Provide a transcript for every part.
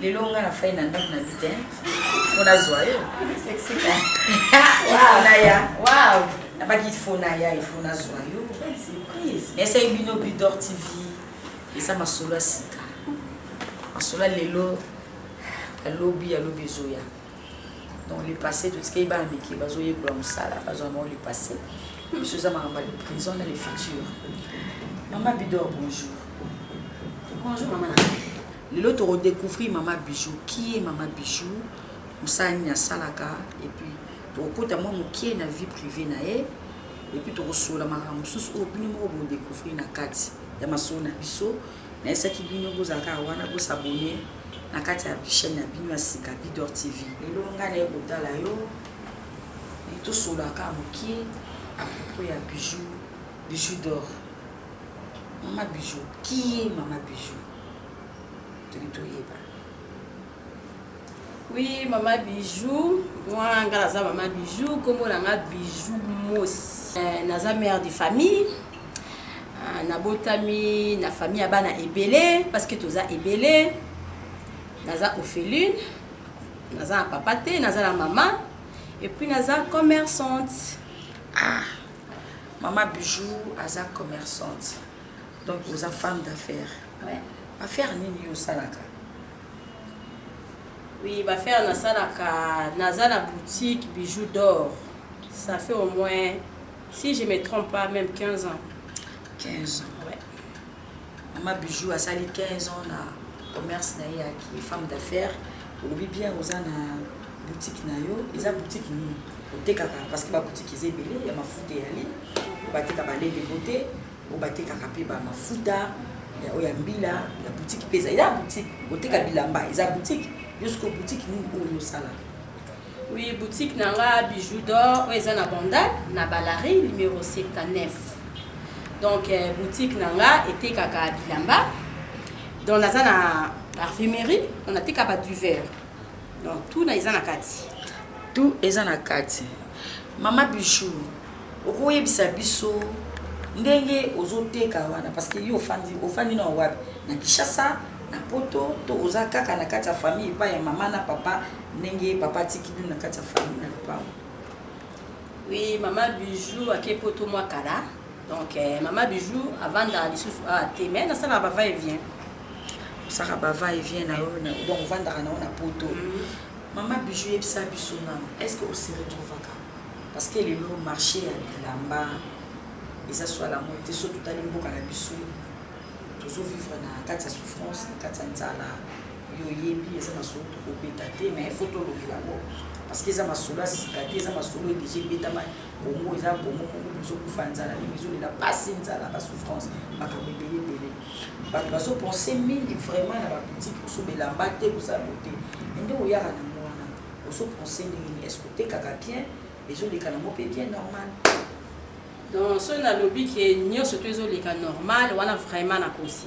Lelo nga na fai na ndako na bite po nazwa yo ifonaya nabaki ifonaya ifo nazwa yo esai bino bidor tv eza masolo ya sika masolo ya lelo ya lobi ya lobi ezoya donc le passé totikei bana mike bazoyekola mosala bazwa bango le passé biso eza makambo ya le présent na le futur mama bidor bonjour bonjour mama na Lelo toko decouvrir mama bijou qui est mama bijou musala nini asalaka et puis tokokota mwa mokie na vie privee na ye et puis tokosolola makambo mosusu oyo bino moko bo decouvrir na kati ya masolo na biso nayesaki bino bozala kaka wana bosabone na kati ya chaîne na bino ya sika bidor tv lelo ngai naye kotala yo tosolola kaka mokie à propos ya bijou bijou d'or mama bijou qui est mama bijou toki toyeba oui mama bijou mwa nga naza mama bijou nkombo na nga bijou mos eh, naza mare de famille ah, nabotami na famille ya bana ebele parce que toza ebele naza opheline naza na papa te naza na mama epuis naza commerçante ah mama bijou aza commerçante donc oza femme d'affaire ouais. affaire nini yo osalaka oui bafaire nasalaka naza na boutique bijou d'or ça fait au moins si je me trompe pas même 15 ans 15 ans ouais. mama bijou asali 15 ans na commerce na ye yaki femme d'affaire olobi bien oza na boutique na yo eza boutique nini otekaka parce que baboutique eza ebele ya mafuta eyali bateka balede bote oyo batekaka mpe ba mafuta oyo ya mbila ya boutique mpe eza ya boutique koteka bilamba eza boutique yo sikoyo boutique nini oyo ozosala oui boutique na nga bijou d'or oyo eza na bandal na balari numéro 79 donc euh, boutique na nga etekaka bilamba donc naza na parfumerie on ateka ba duver donc tout na eza na kati tout eza na kati mama bijou okoyebisa biso ndenge ozoteka wana parce que yo ofandi ofandi na wapi na Kinshasa na poto to oza kaka na kati ya famille epai ya mama na papa ndenge papa atiki bino na kati ya famille na lopango oui mama bijou ake poto mwa kala donc eh, mama bijou avandaka lisusu awa ah, te mai nasalaka bava e vient osaka bava e vient na yo donc ovandaka na yo na poto mm. mama bijou yebisa biso nano est ce que oseretrouvaka Parce que lelo marche ya bilamba eza soit la mode te, soki totali mboka na biso tozo vivre na kati ya souffrance, na kati ya nzala, yo oyebi eza masolo tokobeta te, mais il faut tolobela yango parce que eza masolo ya sika te, eza masolo oyo deja ebetama. Congo eza Congo moko bozokufa nzala, mimi ezolela pasi, nzala, ba souffrance, makambo ebele ebele. Bato bazo pense mingi vraiment na ba boutique mosusu bilamba te, kosala boye te, mais nde oyaka na yango wana Ozo pense ndenge nini est ce que otekaka bien ezo leka nango pe bien normal. Donc soki nalobi ke nionso tout ezo leka normal wana vraiment nakosi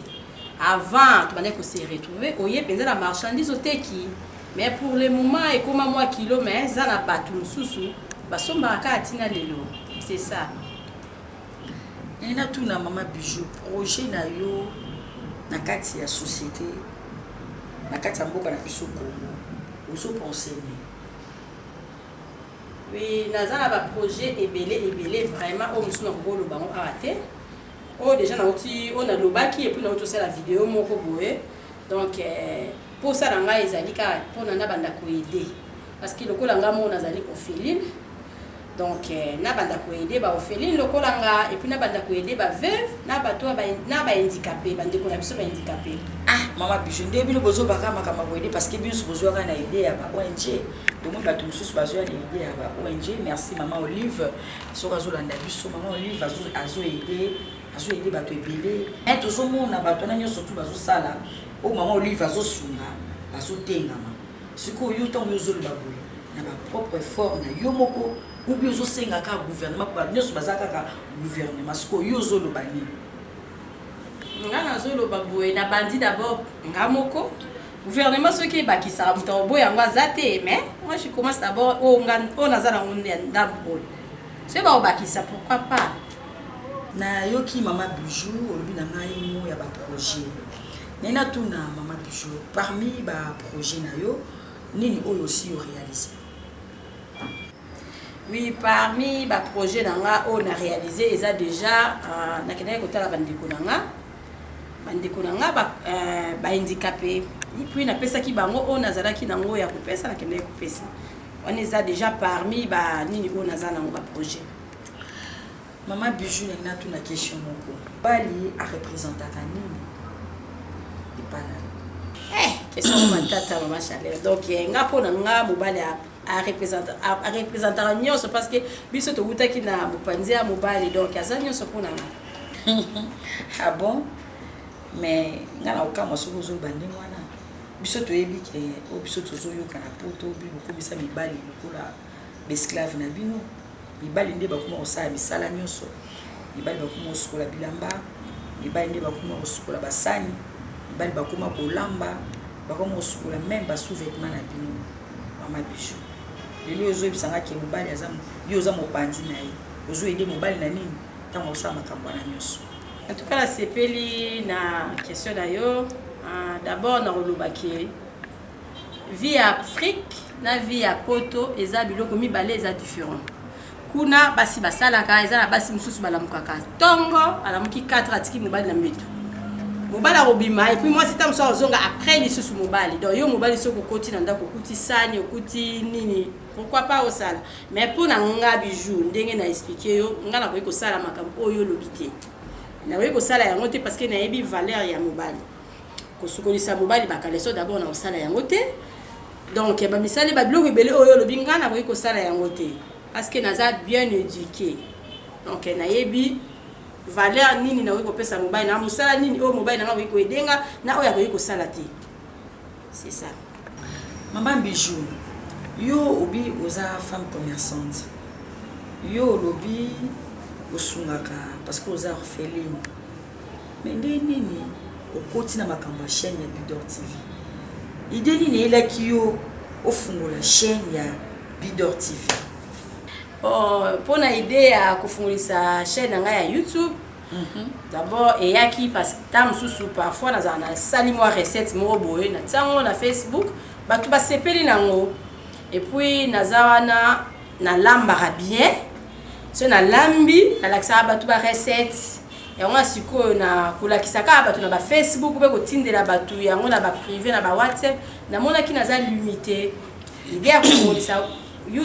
avant tobandaki ko se retrouver oye penza na marchandise oteki mais pour le moment ekoma mwa kilo mais eza na batu mosusu basombaka kaka tina lelo c'est ça. Nina tuna mama Bijou projet na yo na kati ya société na kati ya mboka na biso Congo ozo penser nini Oui, naza na ba projet ebele ebele vraiment oyo mosusu nakoki koloba yango awa te oyo déjà nauti oyo nalobaki epuis nauti osala video moko boye donc euh, mposa na ngai ezali kaka mpona nabanda koede parce que lokola ngai moko nazali ofilile Donc na banda ko aider ba orphelines lokola nga et puis na banda ko aider ba veuves na bato ba na ba handicapés ba ndeko na biso ba handicapés. Ah mama bijou nde bino bozo baka makambo ko aider parce que bino bozo ka na idée ya ba ONG. Donc mona bato mosusu bazo ya na idée ya ba ONG. Merci mama Olive soki azo landa biso mama Olive azo azo aider azo aider bato ebele. Eh tozo mona bato na nyoso tout bazo sala o oh, mama Olive azo sunga bazo tengama. Sikoyo yo ntango yo ozoloba boye na ba propre effort na yo moko ubi ozosenga kaka gouvernement bato nyonso baza kaka gouvernement sikoyo yo ozoloba nini nga nazoloba boye na bandi d'abord nga moko gouvernement soki ebakisaka moto obo yango aza te mais moi je commence d'abord oyo oh, oh, naza nango ndambo oyo soki bakobakisa pourquoi pas nayoki mama bijou olobi na ngai mo ya baprojet Naye na tuna maman bijou parmi ba projet na yo nini oyo osi yo realiser? Oui parmi ba projet na nga oyo na realiser eza deja uh, na kendaki kotala ba ndeko na nga ba ndeko na nga ba, uh, ba handicapé et puis na pesaki bango oyo nazalaki na ngo ya kopesa na kendaki kopesa wana eza deja parmi ba nini oyo naza na ngo ba projet Maman Bijou na ina tuna question moko. Bali a representaka nini? Epa na Eh, question moko matata maman Chaleur. Donc eh, nga pona nga mobali a a representa a, a representaka nyonso parce que biso towutaki na mopanzi ya mobali donc aza nyonso pona nga. ah bon? Mais nga na kokamwa soki ozoloba ndenge wana. Biso toyebi ke oyo biso tozoyoka na poto obi bokomisa mibali lokola B'esclaves na bino, mibali nde bakoma kosala misala nionso. Mibali bakoma kosukola bilamba, mibali nde bakoma kosukola basani, mibali bakoma kolamba, bakoma kosukola meme ba sous-vetements na bino. Mama Bijou, lelo ozoyebisa nga ke mobali aza yo oza mopanzi na ye, ozo aider mobali na nini tango akosala makambo wana nionso? En tout cas, nasepeli na question na yo. D'abord, nakoloba ke Vie ya Afrique na vie ya poto eza biloko mibale eza different. Kuna basi basalaka, eza na basi mosusu balamukaka tongo, alamuki 4 atiki mobali na mbeto mobali akobima epuis mwasi ntango mosusu akozonga après lisusu mobali donc yo mobali soki okoti na ndako okuti sani okuti nini pourquoi pas osala mais mpo na nga bijou ndenge na explike yo nga nakoki kosala makambo oyo olobi te nakoki kosala yango te parce que nayebi valeur ya mobali kosukolisa mobali ba caleçon d'abord na kosala yango te donc ba misali ba biloko ebele oyo olobi ngai nakoki kosala yango te parce que naza bien éduqué donc nayebi valeur nini nakoki kopesa mobali na mosala nini oyo mobali na ngai akoki koedenga na oyo akoki kosala te c'est ça mama bijou yo obi oza femme commerçante yo olobi osungaka parce que oza orpheline Mais ndenge nini okoti na makambo ya chaîne ya Bidor TV? Idée nini eyelaki yo ofungola chaîne ya Bidor TV? Oh, mpo na idée ya kofungolisa chaîne na ngai ya YouTube Mhm. d'abord eyaki parce que ntango mosusu parfois nazala nasali mwa recette moko boye na ntiango na facebook bato basepeli nango epuis naza wana nalambaka bien so nalambi nalakisaka bato barecette yango ya sikoyo na kolakisa kaka bato na ba facebook mpe kotindela bato yango na ba prive na ba whatsapp namonaki naza limite ide ya komonisa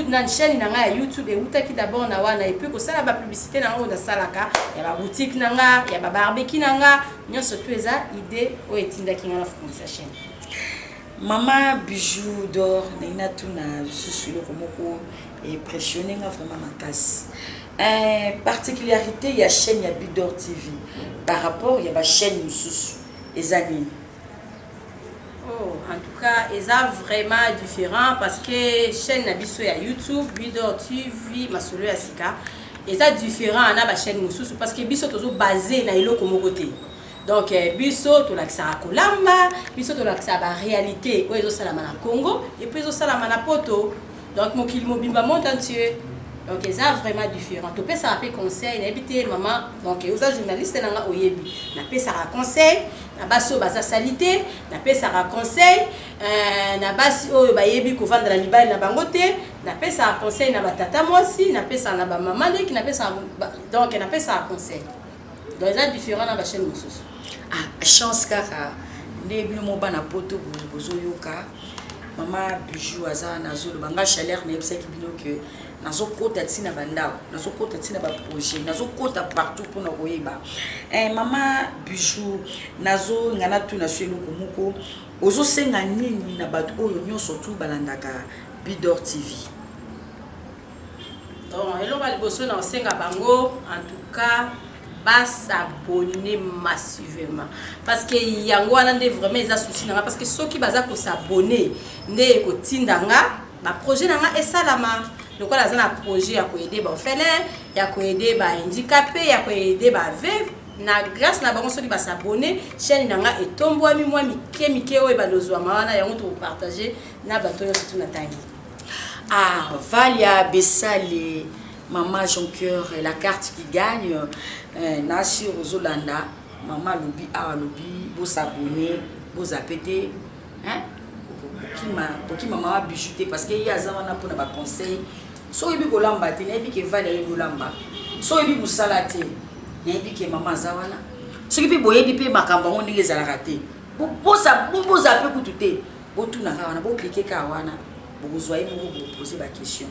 na chaîne na ngai ya youtube ewutaki d'abord na wana epuis kosala bapublicité na ngai oyo nasalaka ya baboutique na nga ya babarbeki na nga nyonso tu eza ide oyo etindaki ngai na fungisa chaîne Mama Bijou d'or naye natuna lisusu eloko moko impressionne nga vraiment makasi eh, particularité ya chaîne ya Bidor TV par rapport ya bachaîne mosusu eza nini? Oh, en tout cas eza vraiment différent parce que chaîne na biso ya YouTube Bidor TV masolo ya sika eza différent na bachaîne mosusu parce que biso tozo base na eloko moko te donc eh, biso tolakisaka kolamba biso tolakisaka baréalité oyo ezosalama na congo epuis ezosalama na poto donc mokili mobimba monde entier donc eza vraiment différent topesaka mpe conseil nayebi te mama donc oza journaliste na nga oyebi napesaka conseil na basi oyo baza salite napesaka conseil euh, na basi oyo bayebi kovanda na mibali na bango te napesaka conseil na batata mwasi napesaka na bamama leki napesaka donc napesaka conseil Donc eza different na ba chaine mususu. Ah chance kaka nde bino mo bana poto boye bozo yoka mama bijou aza nazo loba nga chaleur na yebisaki bino que nazo kota ti na bandako nazo kota ti na ba projet nazo kota partout pona koyeba eh mama bijou nazo nga na tuna so eloko moko ozo senga nini na bato oyo nyonso tu balandaka bidor tv Donc, eloko ya liboso na osenga bango en tout cas basabone massivement parce que yango wana nde vraiment eza souci na nga parce que soki baza kosabone nde ekotinda nga baprojet na nga esalama lokola aza na projet ya koede baofele ya koede bahandikape ya koede baveve na grâce na bango soki basabone chaîne na nga etombwami mwa mike mike oyo ebalozwama wana yango tokopartage na bato nyonso tuna tangi Ah valia besali maman jonqueur la carte qui gagne eh, na sur ozolanda maman alobi awa alobi bosabone bozape te hein kokima kokima mama bijou te parce que ye aza wana mpona baconseil so oyebi kolamba te nayebi ke vale ayebi olamba so oyebi mosala te nayebi ke mama aza wana soki mpe boyebi mpe makambo yango ndenge ezalaka te boza mpe kutu te Botuna kaka wana, bo cliquer kaka wana, bokozua ye moko bo poser ba questions.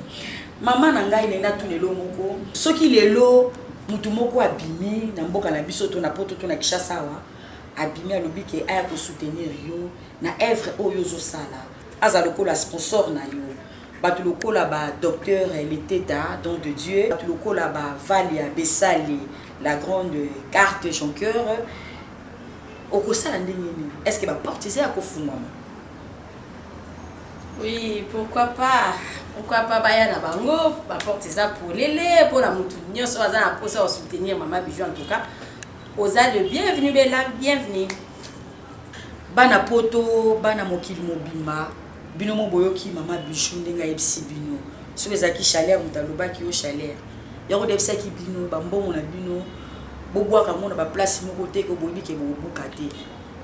Maman na ngai nalingi natuna eloko moko, soki lelo mutu moko abimi na mboka na biso to na poto to na Kinshasa awa, abimi alobi ke aya ko soutenir yo na oeuvre oyo ozo sala, aza lokola sponsor na yo, batu lokola ba Docteur Leteta, Don de Dieu, batu lokola ba Valia Besali, la grande carte jonqueur, Okosala ndenge nini? Est ce que ba portes eza ya kofungwama? Oui, pourquoi pas? Pourquoi pas baya na bango, ba portes eza polele pona mutu nionso aza na posa ya soutenir maman Bijou en tout cas. Oza le bienvenu bella, bienvenue. Bana poto, bana mokili mobimba. Bino mo boyoki mama Bijou ndenge ayebisi bino soki ezalaki chaleur moto alobaki yo chaleur yango debisaki bino bambongo na bino bobwaka yango na baplace moko te ko boyebi ke bokobuka te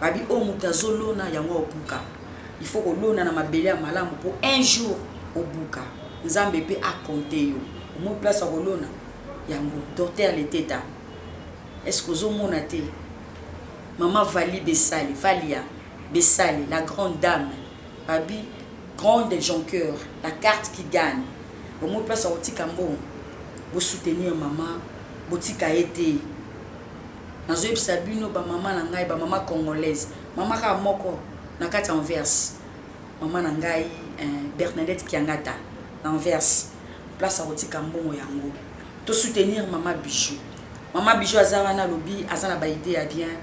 babi oyo oh, moto azolona yango obuka il faut kolona na mabele ya malamu mpo un jour obuka nzambe mpe akonte yo omoi place ya kolona yango docteur leteta est ce que ozomona te mama vali besali valia Besale la grande dame babi grande jonqueur la carte qui gagne omoni place akotika mbongo bo soutenir maman botika ye te nazo yebisa bino ba maman na ngai ba maman congolaise maman kaka moko na kati anvers maman na ngai eh, Bernadette Kiangata na anvers place akotika mbongo yango to soutenir maman bijou maman bijou aza wana lobi aza na ba idée ya bien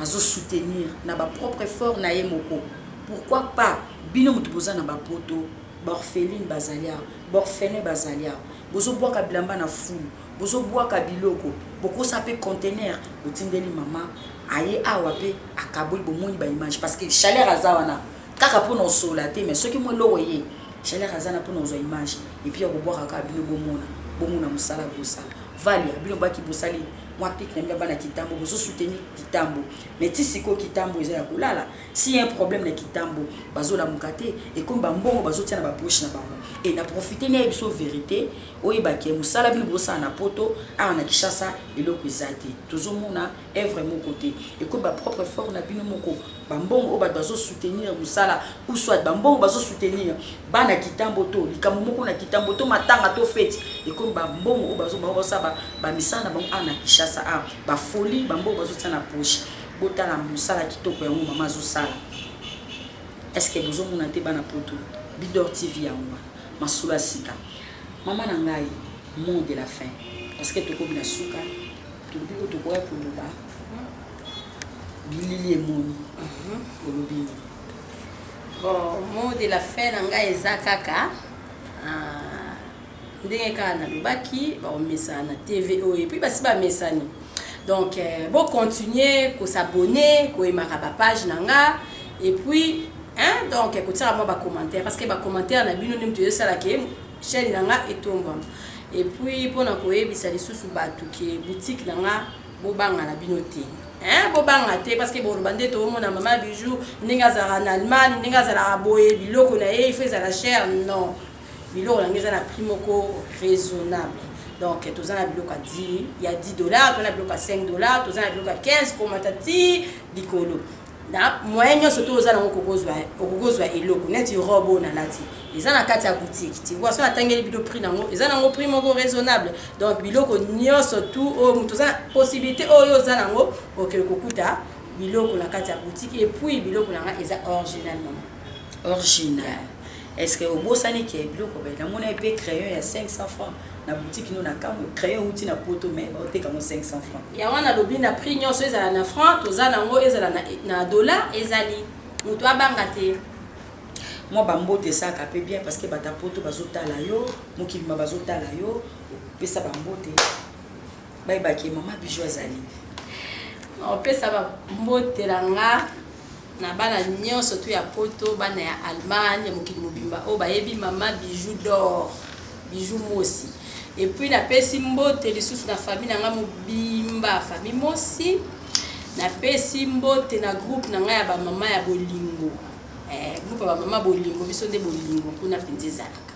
azo soutenir na ba propre effort naye moko pourquoi pas bino mutu boza na ba poto ba orpheline bazali awa ba orphelin bazali awa bozo bwaka bilamba na fulu bozo bwaka biloko bokosa pe contenaire botindeli mama aye awa pe akaboli bomoni ba image parce que chaleur aza wana kaka pona osola te mais soki mo eloko eye chaleur aza na pona ozwa image et puis akobwaka kaka bino bomona bomona mosala bosala Valia bino baki bosali mwa pic na bino ya bana kitambo bozo soutenir kitambo mais ti sikoyo kitambo eza ya kolala s'il y'a un problème na kitambo bazo lamuka te ekomi ba mbongo bazo tia na ba poche na bango et na profiter na yebisa yo verite oyeba ke musala bino bozo sala na poto awa na Kinshasa eloko eza te tozo mona œuvre moko te ekomi ba propre fort na bino moko bambongo oyo bato bazo soutenir mosala ou soit bambongo bazo soutenir bana kitambo to likambo moko na kitambo to matanga to feti ekomi bambongo oyo bazo bango basala bamisala na bango ana kishasa a bafoli bambongo bazotia na poche botala mosala kitoko yango mama azosala estce bozomona te bana poto bidor tv yango wana masolo ya sika mama na ngai mot de la fin parce que tokomi na suka Toyebi ko tokoya koloba bilili emoni olobi nini? Bon, mot de la fin na ngai eza kaka ah, ndenge kaka nalobaki bakomesana na tv oyo epuis basi bamesani donc eh, bocontinue kosabone koyemaka bapage na nga epuis hein, donc kotiaka mwa bacommentaire parce que bacommentaire na bino nde moto ezosala ke chaîne na nga etombwama Et puis pona koyebisa lisusu batu ke boutique na nga bobanga na bino te hein bobanga te parce que boloba nde toomona mama bijou ndenge azalaka na allemagne ndenge azalaka boye biloko na ye ifo ezala cher non biloko na ngai eza na prix moko raisonnable donc toza na biloko ya 10 dollar toza na biloko ya 5 dollar toza na biloko ya 15 komata ti likolo Na moyen nionso to oza nango okoki ozua okoki ozua eloko neti robe oyo na lati eza na kati ya boutique tu vois soki na tangeli bino prix nango eza nango prix moko raisonnable donc biloko nionso tout oyo mutu oza possibilite oyo oza nango oke kokuta biloko na kati ya boutique et puis biloko nanga eza original maman Original. Est ce que obosani ke biloko bete namona pe crayon ya 500 francs na boutique no na kamwe crayon euti na poto mais oteka ngo 500 francs. Ya wana lobi na prix nionso ezala na francs toza na ngo ezala na, na dollar ezali mutu abanga te. Mwa ba mbote esaka pe bien parce que bata poto bazo tala yo mokili ma bazo tala yo pesa ba mbote bayeba ke maman bijou azali. Opesa ba mbote na nga. Na bana nionso tout ya poto, bana ya Allemagne, ya mokili mobimba oyo bayebi maman Bijoux d'or, Bijoux Mosi. Et puis na pesi mbote lisusu na famille na nga mobimba, famille Mosi. Na pesi mbote na groupe na nga ya ba maman ya bolingo. Eh, groupe ya ba maman bolingo, biso nde bolingo kuna penza ezalaka.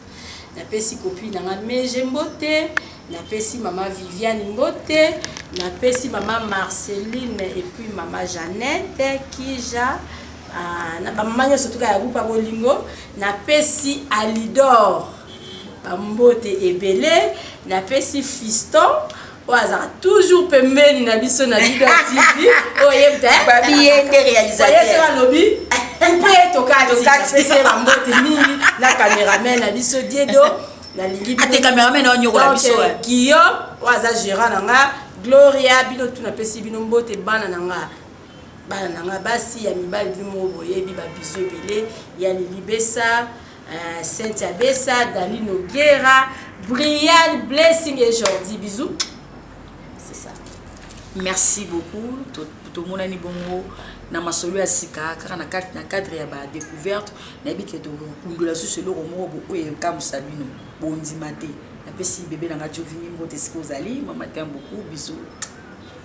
Na pesi copine na nga Meje mbote, na pesi mama Viviane mbote, na pesi mama Marceline et puis mama Jeannette, Kija, ah, na ba mama nyoso tuka ya groupe ya bolingo, na pesi Alidor ba mbote ebele, na pesi Fiston oyo azalaka toujours pembeni na biso na bido tv oyebtababiende eh? réalisateur alobi mpe tokatise bambote mingi na cameraman na biso diedo nalingi ate ah, cameraman aonyokola biso eh. guillaume oyo aza gérant na nga gloria bino tu napesi bino mbote bana na nga bana na nga basi ya mibali bino moko boyebi babiso ebele ya lilibesa Eh, Cynthia Bessa, Dani Noguera, Brian Blessing et Jordi. Bisous. C'est ça. Merci beaucoup. tomonani bongo na masolo ya sika kaka na cadre ya badecouverte nayebi ke tokundola susu eloko moko booyo ekamwisa bino bondima te napesi bebe na ngai jovini mbote esika ozali mamatin beaucoup bisous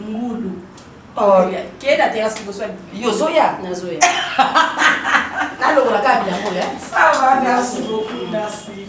ngulu oh. kee na terrasse liboso yo ozoya nazoya nalongola kaka bilango ya ça va merci beaucoup merci